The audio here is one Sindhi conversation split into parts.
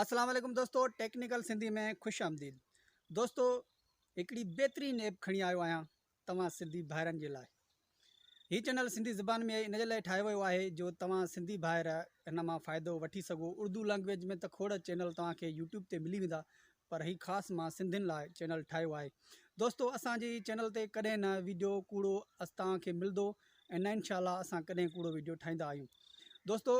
اسلام عليڪم دوستو ٽيڪنيڪل سنڌي ۾ خوش آمديد دوستو هڪڙي بهترين ايپ کڻي آيو آهيان توهان سنڌي ڀائرن جي لاء هي چينل سنڌي زبان ۾ ان جي لاء ٺاهيو ويو آهي جو توهان سنڌي ڀائر هن مان فائدو وٺي سگهو اردو لئنگويج ۾ ته کوڙ چينل توهان کي يوٽيوب تي ملي ويندا پر هي خاص مان سنڌين لاء چينل ٺاهيو آهي دوستو اسان جي چينل تي ڪڏهن نه ويڊيو ڪوڙو اس توهان کي ملدو ۽ نه انشاء الله اسان ڪڏهن ڪوڙو ويڊيو ٺاهيندا آهيون دوستو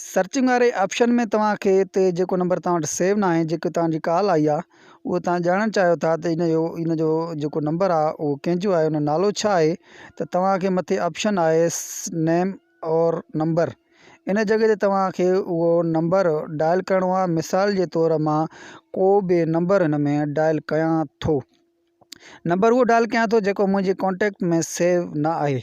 سرچنگ واري آپشن ۾ توهان کي هتي جيڪو نمبر توهان وٽ سيو ناهي جيڪي توهان جي ڪال آئي آهي اهو توهان ڄاڻڻ چاهيو ٿا ته ان جو ان جو جيڪو نمبر آهي اهو ڪنهن جو آهي ان جو نالو ڇا آهي ته توهان کي مٿي آپشن آهي نيم اور نمبر ان جڳهه تي توهان کي اهو نمبر ڊائل ڪرڻو آهي مثال جي طور مان ڪو به نمبر هن ۾ ڊائل ڪيان ٿو نمبر اهو ڊائل ڪيان ٿو جيڪو منهنجي ڪانٽيڪٽ ۾ سيو نه آهي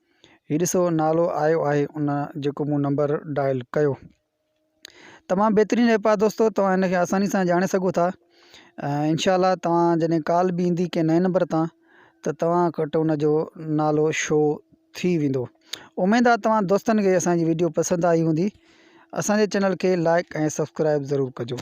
هي ڏسو نالو آيو آهي ان جيڪو مون نمبر ڊائل ڪيو تمام بهترين ايپ آ دوستو توهان ان کي آساني سان ڄاڻي سگهو ٿا ۽ انشاء الله توهان جڏهن ڪال به ايندي ڪنهن نئين نمبر تان ته توهان وٽ ان جو نالو شو ٿي ويندو اميد آ توهان دوستن کي اسان جي ويڊيو پسند آئي هوندي اسان جي چينل کي لائڪ ۽ سبسڪرائب ضرور ڪجو